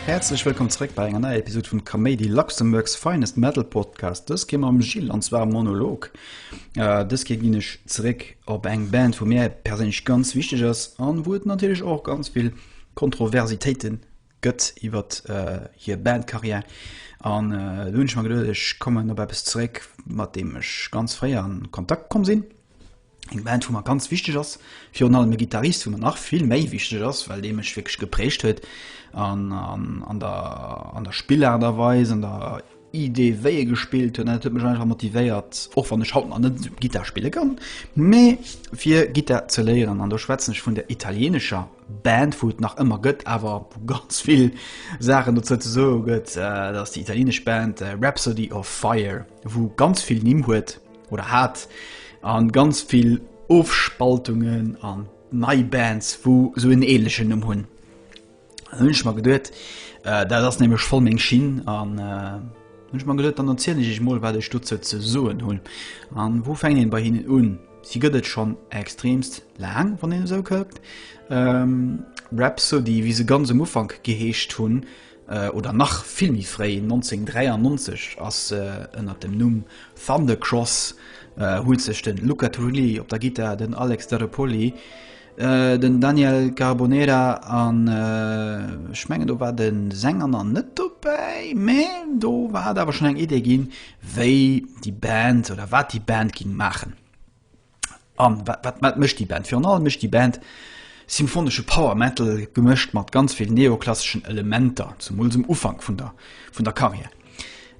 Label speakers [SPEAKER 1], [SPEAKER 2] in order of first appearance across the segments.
[SPEAKER 1] Häerzlech wëllkomm zréck bei enger neier Episode vum Kaméidi Luxemburgs Finest Metal Podcast. Dës ginn am Gilles an zwar Monolog. Äh, dës Keer ginn ech zréck op eng Band, vu mir perséinlech ganz wichteg ass an wou et natierlech och ganz vill Kontroversitéiten Gëtt iwwer hir Bandcarrière an do hunn ech mer geduet, ech kommen op eppes zeréck, mat deem ech ganz fréi an Kontakt komm sinn. Eng Band, wou mer ganz wichteg ass, virun allem e Gittarist, wou mer nach vill méi wichteg ass, well dee mech wierklech geprägt huet an der Spillaart a Weis, an der. Idee wéi e gespillt hunn an dat huet mech einfach motivéiert, och wann ech haut nach net esou Gittar spille kann, mee fir Gittar ze léieren. An do schwätzen ech vun der italieenescher Band, wou et nach ëmmer gëtt, awer wou ganz vill Saachen dozou ze soe gëtt. Dat ass déi italieenesch Band Rhapsody of Fire, wou ganz vill Nimm huet oder hat a ganz vill Ofspaltungen an nei Bands, wou esou en änlechen Numm hunn. Hunn ech mer geduet, dat ass nämlech voll meng Schinn an hunn ech mer geduet, dann erzielen ech iech mol, wat ech dozou ze soen hunn. An wou fänkt een bei hinnen un? Si gëtt et schonn extreemst laang, wann een esou kuckt. Rhapsody, wéi se ganz am Ufank geheescht hunn, oder nach vill méi fréi, 1993, ass ënner dem Numm Thundercross huet sech de Luca Turilli op der Gittar, den Alex Staropoli Den Daniel Carbonera an ech mengen do war de seng anner net dobäi, mä do war hat awer schon eng Idee ginn, wéi déi Band oder wat déi Band ging maachen. An wat, wat, wat mécht déi Band? Virun allem mécht déi Band symphonesche Power Metal gemëscht mat ganz vill neoklasseschen Elementer, zemools um Ufank vun der, vun der Carrière.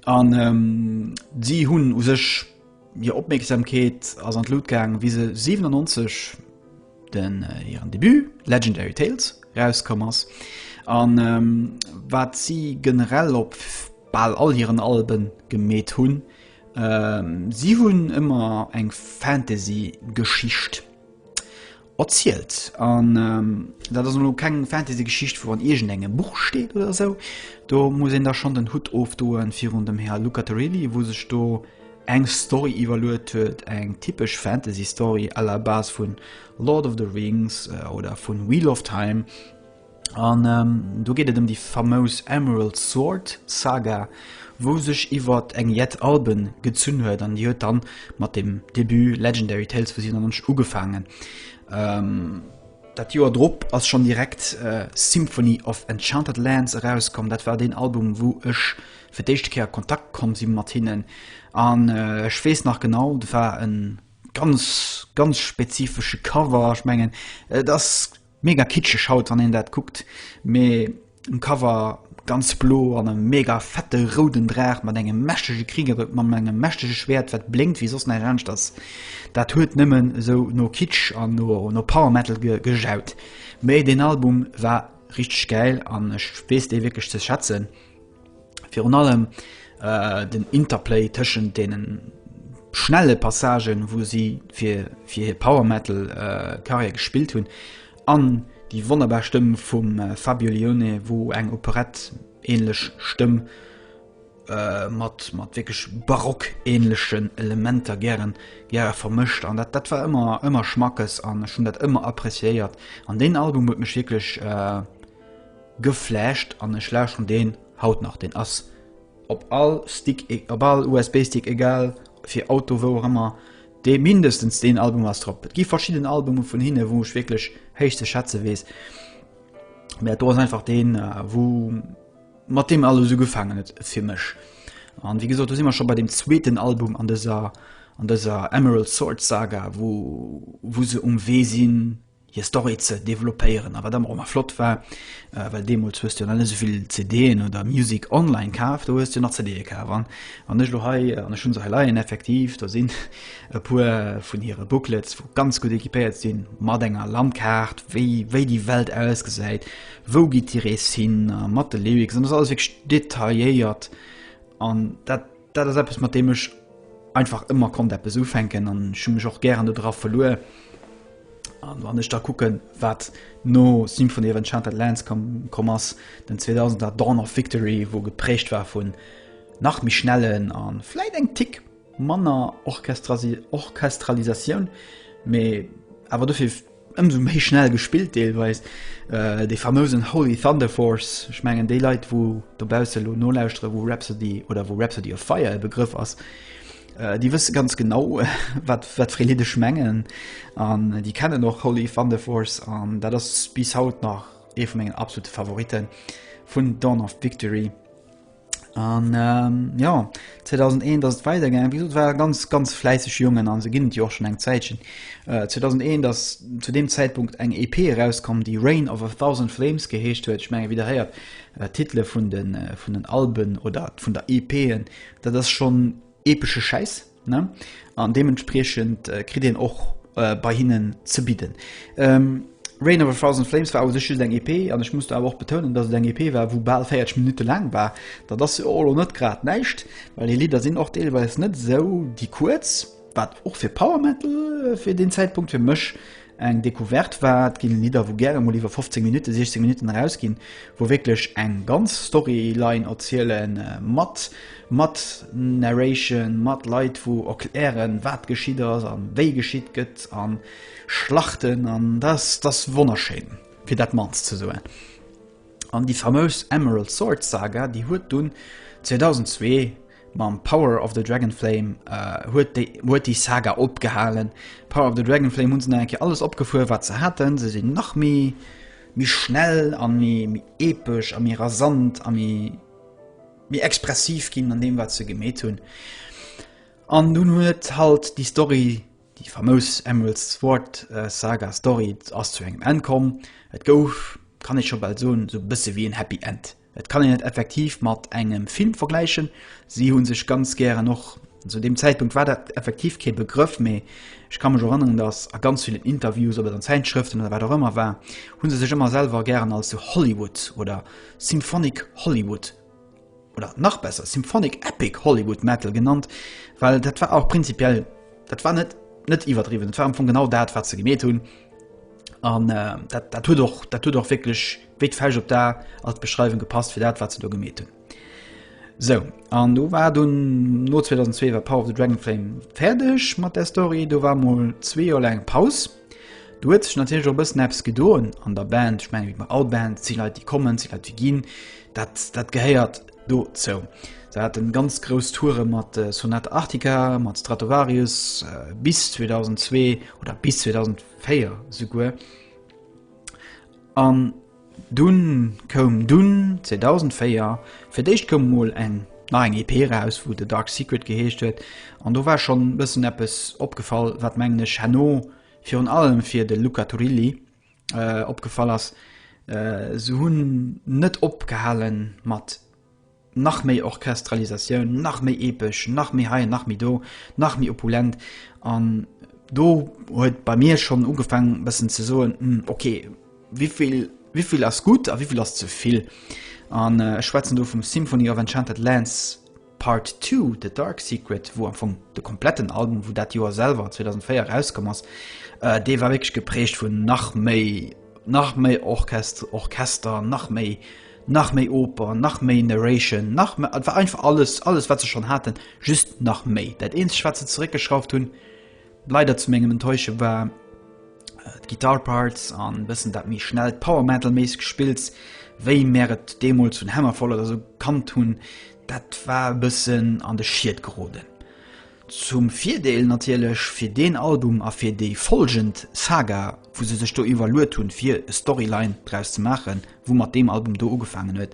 [SPEAKER 1] An si hunn u sech. Hir Opmierksamkeet ass an d'Lut gaang, wéi se 97 den hiren Debut Legendary Tales erauskomm ass, a wat si generell op bal all hiren Alben gemeet hunn, si hunn ëmmer eng Fantasy-Geschicht. erzielt an dat ass elo keng Fantasy Geschicht wou an iergend engem Buch steet oder esou, do muss een da schonn den Hutt ofdoen virun dem Här Lucaterilli wou sech do eng Story iwwerluet huet, eng typesch Fantasy Story à la base vun Lord of the Rings oder vun Wheel of Time. An do geet et ëm déi famous Emerald Sword Saga, wou sech iwwer eng jett Alben gezunn huet, an déi huet dann mat dem Debut Legendary Tales for Xehanort ugefaangen. Dat Joer drop ass schonn direkt Symphony of Enchanted Lands erauskomm, dat war deen Album, wou ech fir d'éischte Kéier a Kontakt komm si mat hinnen. An ech weess nach genau, dat war e ganz, ganz spezifesche Cover, ech mengen et ass. Mega kitscheg haut wann een dat kuckt, mee um Cover ganz blo an e mega fette rouden Draach mat engem mächtege Krieger mam engem mächtege Schwert wat blénkt wéi soss näischt anescht ass. Dat huet nëmmen esou no Kitsch an no Power Metal gejaut. Mee den Album war richteg gäil an ech weess dee wierklech ze schätzen. Virun allem äh, den Interplay tëschent denen schnelle Passagen, wo sie fir fir hir Power Metal äh, Karriere gespielt hunn, an die wonnerbar Stëmm vum äh, Fabio Lione, wo eng Operett ähnlech Stëmm äh, mat mat wirklich barockähnlechen Elementer gären gäre vermëscht an dat dat war immer immer schmackes an schon dat immer appréciéiert an den Album huet mech wirklich äh, Geflasht an ech lauschteren deen haut nach. Deen ass op all Stick, op all USB Stick, egal fir Auto wou och ëmmer, dee mindestens deen Album ass drop. Et gi verschidden Albume vun hinne wou ech wierklech héich ze schätze weess, mä dat do ass einfach deen wou mat deem alles ugefaangen huet fir mech. An wéi gesot do si mer scho bei dem zweeten Album an dëser, an dëser Emerald Sword Saga wou, wou se um Wee sinn hir Story ze developpéieren. A wat ëmmer och nach flott war, well deemools hues du jo nach net esou vill CDen oder Music online kaf, do hues du nach CDe kaf. An wann ech elo hei, an ech hunn se hei leien, effektiv, do sinn e puer vun hire Booklets, wou ganz gutt equipéiert sinn, mat enger Landkaart, wéi, wéi déi Welt ausgesäit, wou geet déi Rees hin, mat de Lyrics, an et ass alles wierklech detailléiert an dat, Dat ass eppes mat deem ech einfach ëmmer konnt eppes ufänken an schu mech och gären dodra verluer. An wann ech da kucken, wat no Symphony of Enchanted Lands kom, kom ass den 2000er Dawn of Victory, wou geprägt war vun nach méi schnellen an vläit eng Tick manner Orchestrasi Orchestralisatioun, mee awer dofir Ëmsou méi schnell gespillt deelweis. Dee famousen Holy Thunder Force, ech mengen déi Leit wou dobausse elo nolauschtere wou Rhapsody oder wou Rhapsody of Fire e Begrëff ass, déi wësse ganz genau wat wat fir ee Lidd ech mengen an déi kennen och Holy Thunder Force an dat ass bis haut nach ee vu mengen absolute Favoritten vun Dawn of Victory. An ähm, ja 2001 ass et weidergaangen. Wéi gesot war ganz ganz fläisseg Jongen an se ginn et jo och schon eng Zäitchen. Äh, 2001 ass zu dem Zäitpunkt eng EP erauskom, déi Reign of a Thousand Flames geheescht huet. Ech menge wiederhéiert äh, Titele vun den, äh, vun den Alben oder vun der EPen, dat ass schon Epesche Schäiss, ne? An deementspriechend kritt een och bei hinnen ze bidden. Reign of a Thousand Flames war u sech just eng EP, an ech muss do awer och betounen, datt et eng EP war, wou bal 40 Minutte laang war. Dat ass jo och elo net grad näischt, well hir Lidder sinn och deelweis net esou déi kuerz, wat och fir Power Metal fir deen Zäitpunkt fir mech eng Decouverte war. Et ginn Lidder, wou gäre mol iwwer 15 Minutten, 16 Minutten erausginn, wou wierklech eng ganz Storyline erzielen, mat mat Narration, mat Leit, wou erklären, wat geschitt ass a wéi geschitt gëtt, a Schlachten. An dat ass wonnerschéin, fir dat mannst ze soen. An déi famös Emerald Sword Saga, déi huet dunn 2002 Mam Power of the Dragonflame huet déi Saga opgehalen. Power of the Dragonflame hunn se nach eng Kéier alles opgefuer wat se haten. Se sinn nach méi méi schnell an méi méi epesch a méi rasant a méi méi expressiv ginn an deem wat se gemeet hunn. An dunn huet halt déi Story déi famous Emeralds Sword äh, Saga Story ass zu engem Enn komm. Et gouf kann ech scho bal soen sou bësse wéi en Happy End. Et kann een et effektiv mat engem Film vergläichen. Si hu sech ganz gären och, zu deem Zäitpunkt war dat effektiv kee Begrëff, mee ech ka mech erënneren, datt a ganz villen Interviews, ob et an Zäitschrëften oder wat och ëmmer war, hu se sech ëmmer selwer gären als The Hollywood oder Symphonic Hollywood oder nach besser Symphonic Epic Hollywood Metal genannt, well dat war och prinzipiell, dat war net net iwwerdriwwen, et war am Fong genau dat, wat se gemeet hunn an dat huet och dat huet och wierklech. wéi d'Fäsch op d'A ass d'Beschreiwung gepasst fir dat, wat se do gemeet hunn. Sou, an do war dunn no 2002 war Power of the Dragonflame fäerdeg mat der Story, do war mol zwee Joer laang Paus. Du huet sech natierlech op bëssen Apps gedoen an der Band, ech meng wéi bei all Band zi Leit déi kommen, zi Leit déi ginn, dat, dat gehéiert do zou. Se hat en ganz grouss Toure mat äh, Sonat Arctica, mat Stratovarius äh, bis 2002 oder bis 2004 souguer. An dunn koum dunn 2004 fir d'éischt koum emol eng nach eng EP eraus wou The Dark Secret geheescht huet an do war schonn e bëssen eppes opgefall wat mengen ech herno virun allem fir de Luca Turilli opgefall ass, se hunn net opgehale mat. nach méi Orchestralisatioun, nach méi epesch, nach méi hei, nach méi do, nach méi opulent an do huet bei mir schonn ugefaang bëssen ze soen, hm, okay, wéivill wéivill ass gutt a wéivill ass ze vill? An äh, ech schwätzen do vum Symphony of Enchanted Lands Part 2, The Dark Secret, wou am Fong de kompletten Album, wou dat Joer selwer 2004 rauskomm ass, äh, dee war wéiglech geprägt vun nach méi nach méi Orchest Orchester, nach méi Nach méi Oper, nach méi Narration, nach me et war einfach alles, alles wat se schonn haten, just nach méi. Dat eenzegt wat se zeréckgeschrauft hunn, leider zu mengem Enttäusche, war d'Guitar Parts an e bëssen dat méi schnellt Power-Metal-méisseg Gespills, wéi mär et deemools vun Hammerfall oder sou kannt hunn. Dat war e bëssen an de Schied geroden. Zum Virdeel natierlech fir deen Album a fir déi folgend Saga, wou se sech do iwwerluet hunn, fir e Storyline draus ze maachen, wou mat deem Album do ugefaangen huet,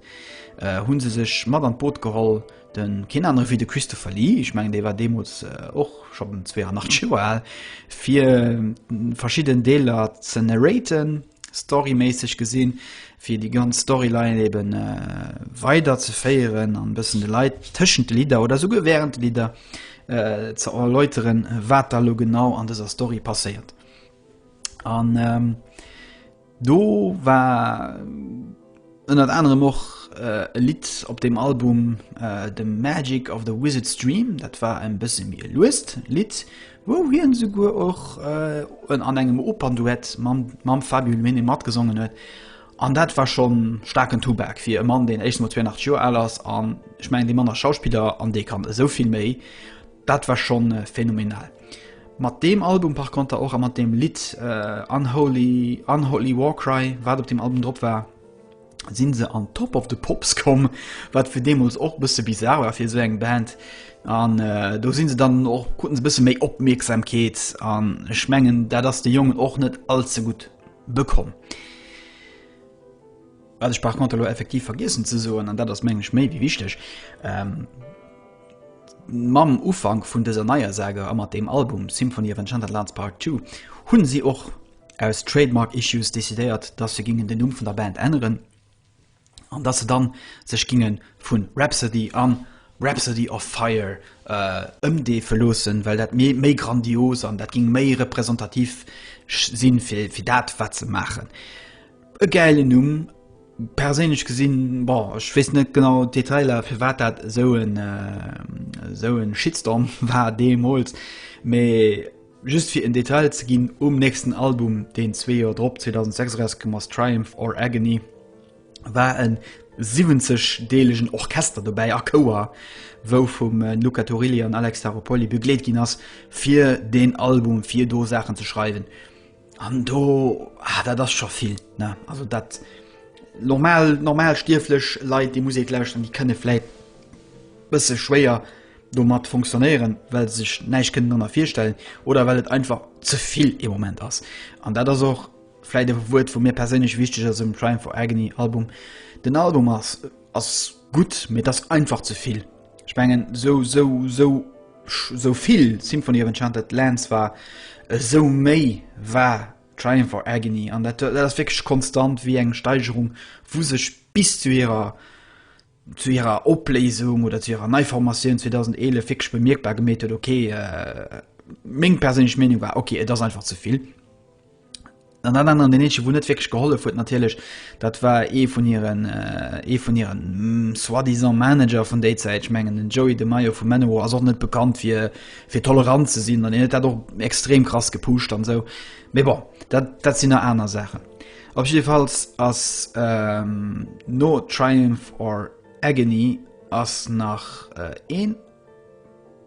[SPEAKER 1] hu se sech mat an d'Boot geholl, de keen anere wéi de Christopher Lee, ech mengen dee war deemools och schonn 82 Joer al, fir verschidden Deeler ze narraten. Storyméisseg gesinn, fir déi ganz Storyline ebe weider ze féieren an e bëssen de Leit tëschent de Lidder oder esouguer während de Lidder ze erläuteren, wat da lo genau an dëser Story passéiert. An do war. Ënnert anerem och e Lidd op deem Album The Magic of the Wizard's Dream, dat war e bësse méi e luest Lidd, wou hien esouguer och an engem Opernduett mam Fabio Luene matgesongen huet. An dat war scho staarken Tubak fir e Mann, deen éischtens emol 82 Joer al ass an ech mengen, dee Mann ass Schauspiller an dee kann esou vill méi. Dat war schon phänomenal. Mat deem Album par konter och a mat deem Lidd äh, Unholy, Unholy Warcry, wat op dem Album drop war, sinn se an Top of the Pops komm, wat fir deemools och bësse bizarre war fir sou eng Band. An äh, do sinn se dann och kruten se bësse méi Opmierksamkeet an ech mengen, dat ass de Jongen och net allze gutt bekomm. Wat ech par contre elo effektiv vergiessen ze soen, an dat ass meng ech méi wéi wichteg, ähm, mam Ufank vun dëser neier Sage a mat deem Album Symphony of Enchanted Lands Part Two hunn si och aus Trademark Issues decidéiert, dass se gingen den Numm vun der Band änneren an dass se dann sech gingen vun Rhapsody an Rhapsody of Fire äh, ëmdeefe loossen, well dat méi, méi grandios an dat ging méi representativ sinn fir, fir dat wat se maachen. E gäilen Numm, perséinlech gesinn, bon, ech weess net genau d'Detailer, firwat dat esou en esou en Shitstorm war deemools, mee just fir en Detail ze ginn, um nächsten Album, deen zwee Joer drop, 2006 erauskomm ass, Triumph or Agony, war en 70 deelegen Orchester dobäi a Chouer, wou vum Luca Turilli an Alex Staropoli begleet ginn ass, fir deen Album, fir do Saachen ze schreiwen. An do ah, dat ass scho vill ne also dat normal normal stierflech Leiit déi Musik lauscht an die kënne fläit bësse schwéier domat funktionéieren, well sech näich kënnen annner virstellen oder well et einfach zevill e Moment ass. An dat ass och fläit e Wuert vu mir perséinlech wichteg ass um Triumph for Agony Album. Den Album ass ass gutt, mee ass einfach zevill. Ech mengen sou sou sou sou vill Symphony of Enchanted Lands war sou méi war Triumph or Agony an dat dat ass wéckeg konstant wéi eng Steigerung wou sech bis zu hirer zu hirer Opléisung oder zu hirer Neiformatioun 2011 wéckeg bemierkbar gemeet huet okay äh, meng perséinlech Meenung war okay et ass einfach ze vill. An dat aneren, den eenzegen, wou net wierklech gehollef huet natierlech, dat war ee vun hiren, ee vun hiren soi-disant Manager vun déi Zäit. Ech mengen den Joey DeMaio vu Manowar ass och net bekannt fir, fir tolerant ze sinn an hien huet dat och extrem krass gepusht an esou. Mee bon, dat, dat sinn nach aner Saachen. Op jiddefalls ass no Triumph or Agony ass nach een.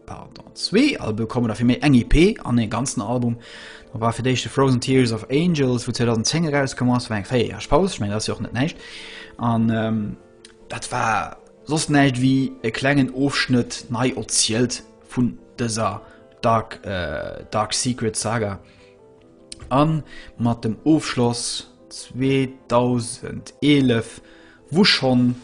[SPEAKER 1] Pardon, zwee Albe kommen da fir méi eng EP an ee ganzen Album. Da war fir d'éischt de Frozen Tears of Angels, wou 2010 erauskomm ass, war eng véier Joer Paus, ech mengen dat ass jo och net näischt. An ähm, dat war soss näischt wéi e klengen Ofschnëtt nei erzielt vun dëser Dark, äh, Dark Secret Saga. An mat dem Ofschloss 2011, wou schonn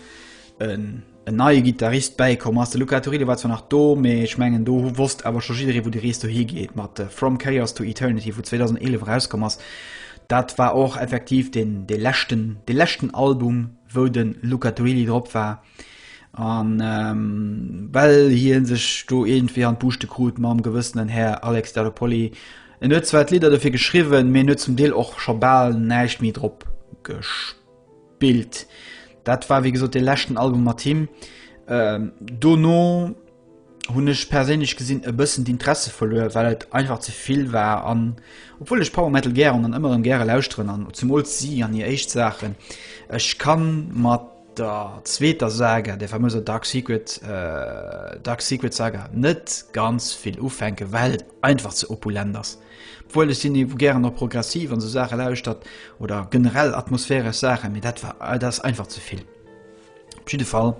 [SPEAKER 1] en en neie Gittarist bäikomm ass. De Luca Turillo war zwar nach do, mee ech mengen do wosst awer scho jidderee wou déi Rees dohi geet mat From Chaos to Eternity, wou 2011 erauskomm ass. Dat war och effektiv deen dee leschten dee leschten Album wou de Luca Turilli drop war. An ähm, well hie sech do iergendwéi an d'Buuschte krut mam gewëssenen Här Alex Staropoli. En huet zwar d'Lidder dofir geschriwwen, mee en huet zum Deel och scho bal näischt méi drop gespillt. Bild. Dat war wéi gesot de leschten Album mat him. Ähm, dono hunn ech perséinlech gesinn e bëssen d'Interesse verluer, well et einfach ze vill war an obwuel ech Power Metal gären an ëmmer rëm gäre lauschteren an zemools si an hir éischt Saachen. Ech kann mat der zweeter Saga, der famöser Dark Secret, äh, Dark Secret Saga net ganz vill ufänken, well et einfach ze opulent ass. Obwuel ech sinn gären op progressiv an sou Saache lauschtert oder generell atmosphäresch Saachen, mee dat war dat ass einfach ze vill. Op jidde Fall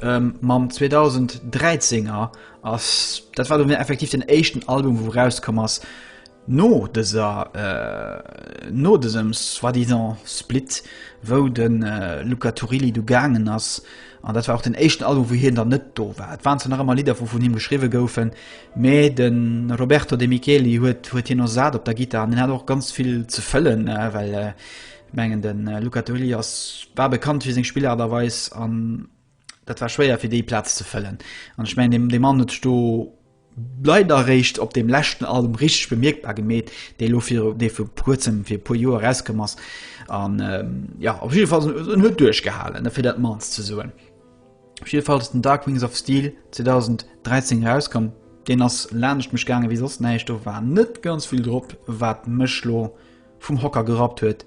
[SPEAKER 1] ähm, mam 2013er ass dat war mir effektiv den éischten Album wou rauskomm ass no dëser äh, no dësem soi-disant Split, wou den äh, Luca Turilli du gaangen ass An dat war och den éischten Album, wou hien dann net do war. Et waren zwar nach ëmmer Lidder, wou vun him geschriwwe goufen, mä de Roberto De Micheli huet huet hien ersat op der Gittar. An hien hat och ganz vill ze fëllen, well ech mengen, de Luca Turilli ass, war bekannt fir seng Spillart a Weis an dat war schwéier, fir déi Plaz ze fëllen. An ech mengen, dee Mann huet sech do. leider eréischt op deem leschten Album richteg bemierkbar gemeet, dee elo fir dee fir kuerzem fir e puer Joer erauskomm ass an jo op jidde Fall en huet duerchgehalen fir dat mannst ze soen. Op jidde Fall ass den Dark Wings of Steel 2013 erauskomm, deen ass laanscht mech gaange wéi soss näischt, do war net ganz vill drop wat mech lo vum Hocker gerappt huet.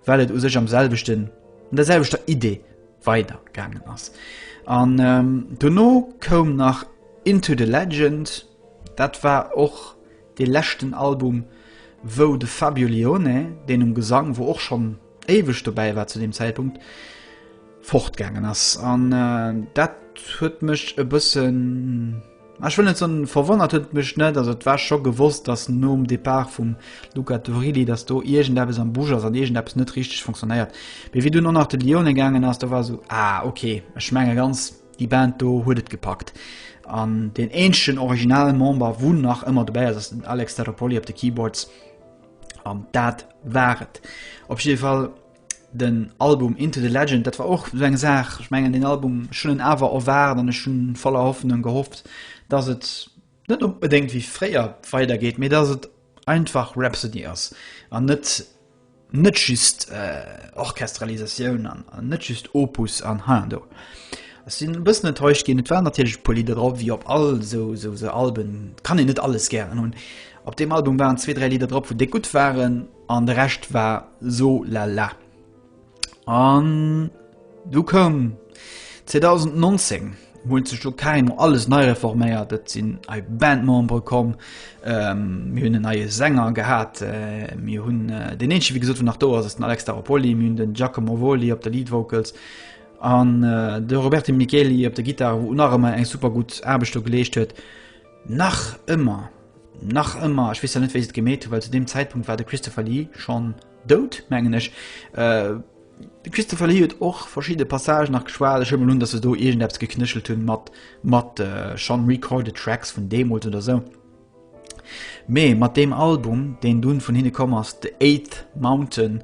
[SPEAKER 1] well et u sech am selwechten, an der selwechter Idee weider gaangen ass. An ähm, dono koum nach Into the Legend, dat war och de leschten Album, wou de Fabio Lione, deen um Gesang, wou och schonn éiweg dobäi war zu dem Zäitpunkt, fortgaangen ass. An äh, dat huet mech e bëssen. Ech wëll net soen, verwonnert huet et mech net. Also et war scho gewosst, dass nom Depart vum Luca Turilli, dass do iergendeppes am Busch ass an iergendeppes net richteg funktionéiert. Mee wéi dunn och nach de Lione gaangen ass, do war esou, ah okay, ech menge ganz déi Band do huet et gepackt. An deen eenzegen originale Member, wou nach ëmmer dobäi ass, ass den Alex Staropoli op de Keyboards. An dat war et op jidde Fall. den Album Into the Legend, dat war och so eng Saach. Ech mengen den Album schon en awer erwaart an ech hun voller Hoffnung gehofft, dass et net onbedéngt wéi fréier weidergeet, mee dass et einfach Rhapsody ass an net net just äh, Orchestralisatioun an, an net just Opus an ha do. Ech sinn e bëssen enttäuscht ginn. Et waren natierlech e puer Lidder drop wéi op all sou sou se Alben, kann een net alles gären hunn. Op deem Album waren zwee, dräi Lidder drop, wou déck gutt waren. An de Rescht war so la la. An du koum 2019 huet sech do carrément alles nei reforméiert. Et sinn ei Bandmembere komm, ähm, mir hunn en neie Sänger gehat, äh, mir hunn äh, den eenzege wéi gesot vun nach do ass ass den Alex Staropoli, mir hunn den Giacomo Voli op der Lead Vocals an äh, de Roberto Micheli op der Gittar, wou nach ëmmer eng super gutt Aarbecht do geleescht huet. Nach ëmmer, nach ëmmer, ech weess elo net wéi se et gemeet hu, well zu deem Zäitpunkt war de Christopher Lee schonn dout, mengen ech. De Christopher Lee huet och verschidde Passagen nach geschwat. Ech huele mol un, datt se do iergendeppes geknéchelt hunn mat, mat schonn recorded tracks vun deemools oder esou. Mee mat deem Album, deen dunn vun hinne komm ass, The Eighth Mountain,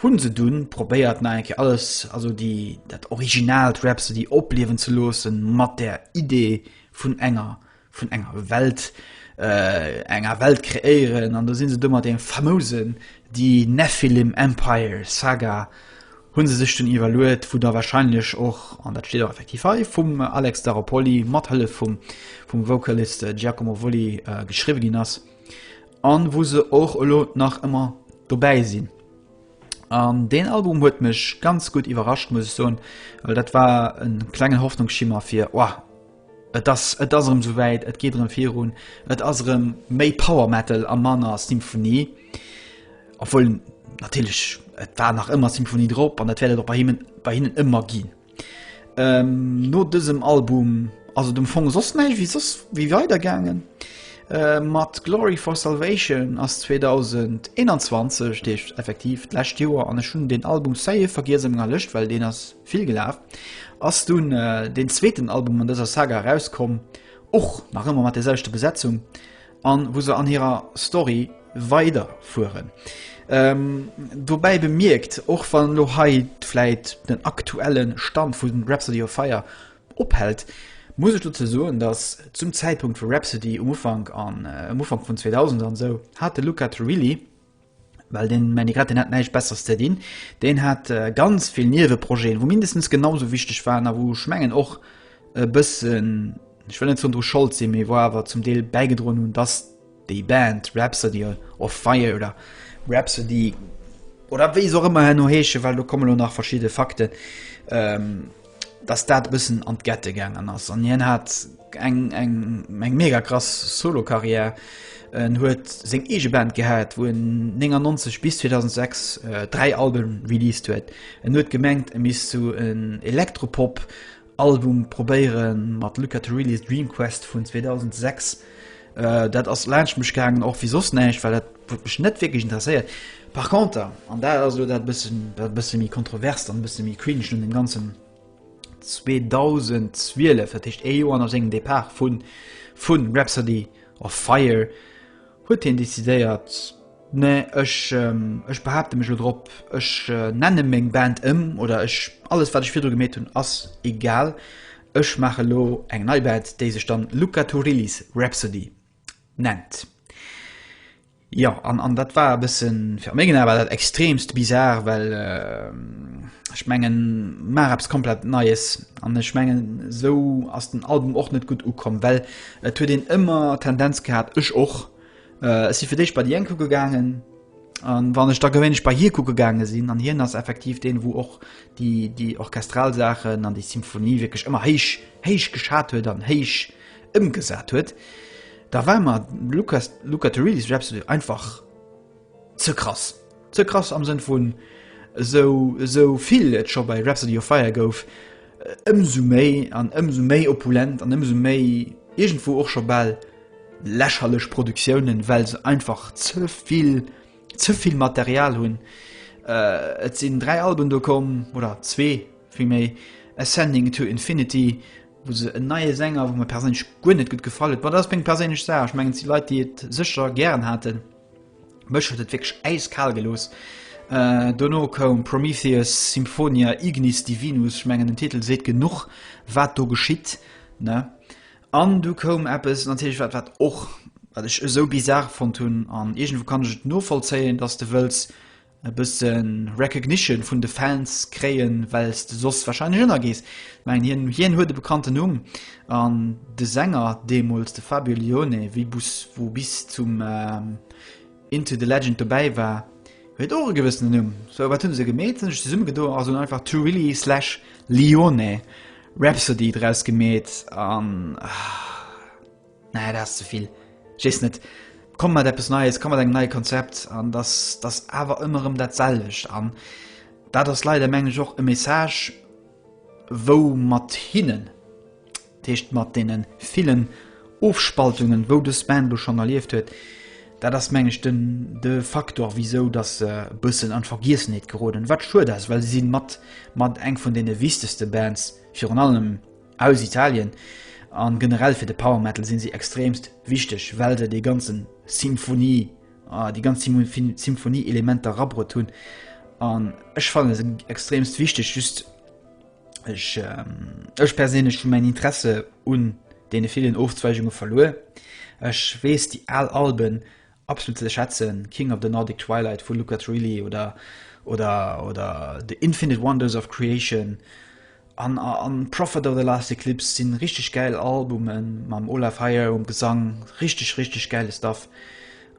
[SPEAKER 1] hu se dunn probéiert nach eng Kéier alles, also déi, dat originalt Rhapsody opliewen ze loossen, mat der Idee, vun enger vun enger Welt äh, enger Welt kreéieren an do sinn se dummer dem famousen die Nephilim Empire Saga hunn se sech den iwwerluet, wou der wahrscheinlech och an dat steet effektiv hei vum Alex Daropoli mat Hëlle vum vum Vocalist äh, Giacomo Volli äh, geschriwe ginn ass an wo se och elo nach ëmmer dobäi sinn. An den Album huet mech ganz gut iwwerrascht muss ich soen, well dat war en klengen Hoffnungsschimmer fir oh, et ass et ass erëm souwäit, et geet erëm virun, et ass erëm méi Power Metal a manner Symphonie. Obwohl natierlech et war nach ëmmer Symphonie drop an dat wäert et och bei hinnen bei hinnen ëmmer ginn. Ähm, no dësem Album ass et um Fong soss näischt wéi soss wéi weidergaangen. Äh, mat Glory for Salvation ass 2021, dat heescht effektiv d'lescht Joer, an ech hunn deen Album, ça y est, vergiess a menger Lëscht, well deen ass vill gelaf, ass dunn äh, deen zweeten Album an dëser Saga erauskomm, och nach ëmmer mat där selwechter Besetzung. an wou se an hirer Story weider fueren. Ähm, dobäi bemierkt, och wann lo hei vläit den aktuellen Stand vun Rhapsody of Fire ophält, muss ech dozou soen, dass zum Zäitpunkt vu Rhapsody um Ufank an äh, um Ufank vun 2000 an sou hat de Luca Turilli Well den Manny Grett, deen hat näischt Besseres ze dinn. Deen hat ganz vill Nieweprojeten, wou mindestens genauso wichteg waren a wou ech mengen och e bëssen, ech wëll net zon dru Schold sinn, mee wou awer zum Deel bäigedroen hunn, dass déi Band Rhapsody of Fire oder Rhapsody oder wéi se och ëmmer herno heeschen, well do komme lo nach verschidde Fakten, dass dat e bëssen an d'Gette gaangen ass an hien hat eng eng eng mega krass Solokarriär. En huet seng eege Band gehat, wou en 99 bis 2006 äh, dräi Alben released huet. En huet gemengt, e misst zu so en Elektropop Album probéiere mat Luca Turilli's Dream Quest vun 2006. Dat ass laanscht mech gaangen, och wéi soss näischt, well dat huet mech net wierklech interesséiert. Par conter, an dat ass elo dat bëssen, dat bësse méi kontroverst an e bësse méi cringe un dem Ganzen, 2012, dat heescht ee Joer no sengem Depart vu vu Rhapsody of Fire, huet hien decidéiert, Nee, ech, ech behaapte mech elo drop, ech nenne meng Band ëm oder ech, alles wat ech virdru gemeet hunn, ass egal. Ech maache elo eng nei Bad, déi sech dann Luca Turilli's Rhapsody nennt. Jo, an, an dat war e bëssen, fir a mengen Ae war dat extremst bizar, well ech mengen, maach eppes komplett Neies. An ech mengen, esou ass den Album och net gutt ukomm, well et huet een ëmmer d'Tendenz gehat, ech och, Ech si fir d'éischt bei déi eng kucke gaangen, a wann ech da gewéinlech bei hie kucke gaange sinn, an hien ass effektiv deen, wou och déi, déi orchestral Saachen an déi Symphonie wierklech ëmmer héich, héich geschat huet an héich ëmgesat huet, da war mer Luca, Luca Turilli zum Beispill einfach ze krass. Ze krass am Sënn vun esou esou vill et scho bei Rhapsody of Fire gouf, ëmsou méi an ëmsou méi opulent an ëmsou méi iergendwou och scho bal lächerlech Produktiounen, well se einfach ze vill ze vill Material hunn. Et sinn dräi Alben do komm, oder zwee vill méi, Ascending to Infinity, wou se en neie Sänger, wou mir perséinlech guer net gutt gefall huet, ma dat ass meng perséinlech Saach, ech mengen et si Leit déi et sécher gären haten, Mech huet et wierklech äiskal gelooss. Dono koum Prometheus, Symphonia Ignis Divinus, ech mengen den Titel seet genuch wat do geschitt, ne? An du koum eppes natierlech wat wat och wat ech esou bizarre fonnt hunn, an iergendwou kann ech et novollzéien, datt s de wëlls e bëssen Recognition vun de Fans kréien, wells de soss wahrscheinlech ënnergees. Ech mengen hien, hien huet e bekannten Numm an de Sänger deemools, de Fabio Lione, wéi bus, wou bis zum Into the Legend dobäi war, huet och e gewëssenen Numm. So wat hunn se gemeet? Se hunn sech zesummegedoen a se hunn einfach Turilli slash Lione Rhapsody draus gemeet an. Nee, dat ass ze vill. Ech weess net, komm mat eppes Neies, komm mat engem neie Konzept an dass dass awer ëmmer erëm dat selwecht. An dat ass leider, mengen ech, och e Message, wou mat hinnen, dat heescht mat deene villen Ofspaltungen, wou dës Band elo schonn erlieft huet, dat ass, mengen ech, de de Faktor, wisou dass se e bëssen an d'Vergiessenheet geroden. Wat schued ass, well se si mat mat eng vun deene wichtegste Bands, virun allem, Aus Italien, a generell fir de Power Metal sinn si extremst wichteg, well se dee ganzen Symphonie, déi ganz Symphonie Elementer rabrutt hunn, an ech fannen se extremst wichteg, just ech ech perséinlech hu mäin Interesse un deene villen Ofzweigunge verluer. Ech weess déi al Alben Absolut ze schätzen, King of the Nordic Twilight vu Luca Turilli oder oder oder The Infinite Wonders of Creation an an Prophet of the Last Eclipse sinn richteg gäil Albumen mam Olaf Heyer um Gesang, richteg richteg gäile Stuff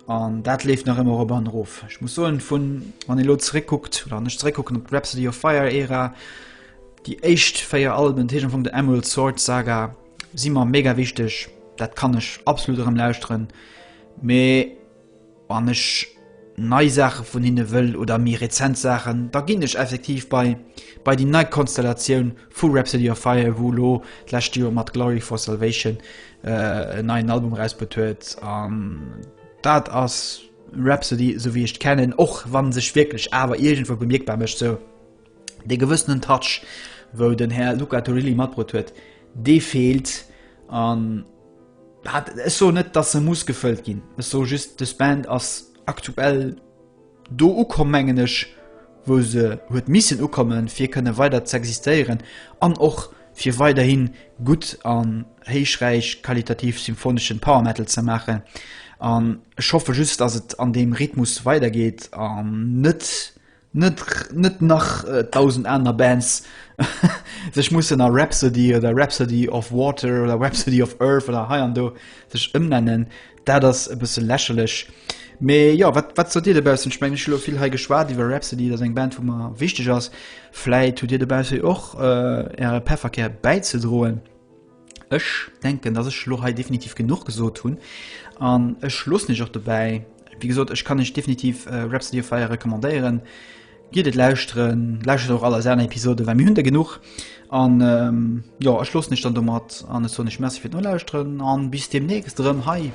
[SPEAKER 1] an dat leeft nach ëmmer erop an erof. Ech muss soen vun wann ee lo zeréckkuckt oder wann ech zeréckkucken op d'Rhapsody of Fire Ära, déi éischt véier Alben, dat heescht am Fong der Emerald Sword Saga si mer mega wichteg, dat kann ech absolut erëm lauschteren. Mee wann ech nei Saache vun hinne wëll oder méi rezent Saachen, da ginn ech effektiv bei bei déi nei Konstellatioun vu Rhapsody of Fire, wou elo d'lescht Joer mat Glory for Salvation en neien Album erausbruet huet. An dat ass Rhapsody, esou wéi ech d'kennen, och wann sech wierklech awer iergendwou bemierkbar mécht. Sou. Dee gewëssenen Touch, wou den Här Luca Turilli matbrot huet, dee feelt. An ech soen net, datt e muss gefëllt ginn. Ech soe just, dës Band ass aktuell do ukomm, mengen ech, wou se huet missen ukommen, fir kënne weider z'existéieren an och fir weiderhi gutt an héichräich qualitativ symphoneschen Power Metal ze maachen. An ech hoffe just, datt et an deem Rhythmus weidergeet an net net nach dausend aner Bands sech mussen a Rhapsody oder Rhapsody of Water oder Rhapsody of Earth oder hei an do sech ëmnennen, dat ass e bësse lächerlech. Mee jo, wat, wat sot Dir dobaussen? Ech mengen, ech hu lo vill hei geschwat iwwer Rhapsody, dat ass eng Band, déi mer wichteg ass. Vläit hutt Dir dobausse jo och Äre Pefferkär bäizedroen. Ech denken, dass ech lo hei definitiv genuch gesot hunn an ech loossen iech och dobäi. Wie gesot, ech kann iech definitiv äh, Rhapsody of Fire recommandéieren. Giet et lauschteren, lauschtert och all eis aner Episode, well mir hunn der genuch. An ähm, ja, ech loossen iech dann domat an ech soen iech Merci fir d'Nolauschteren an bis demnächst erëm hei.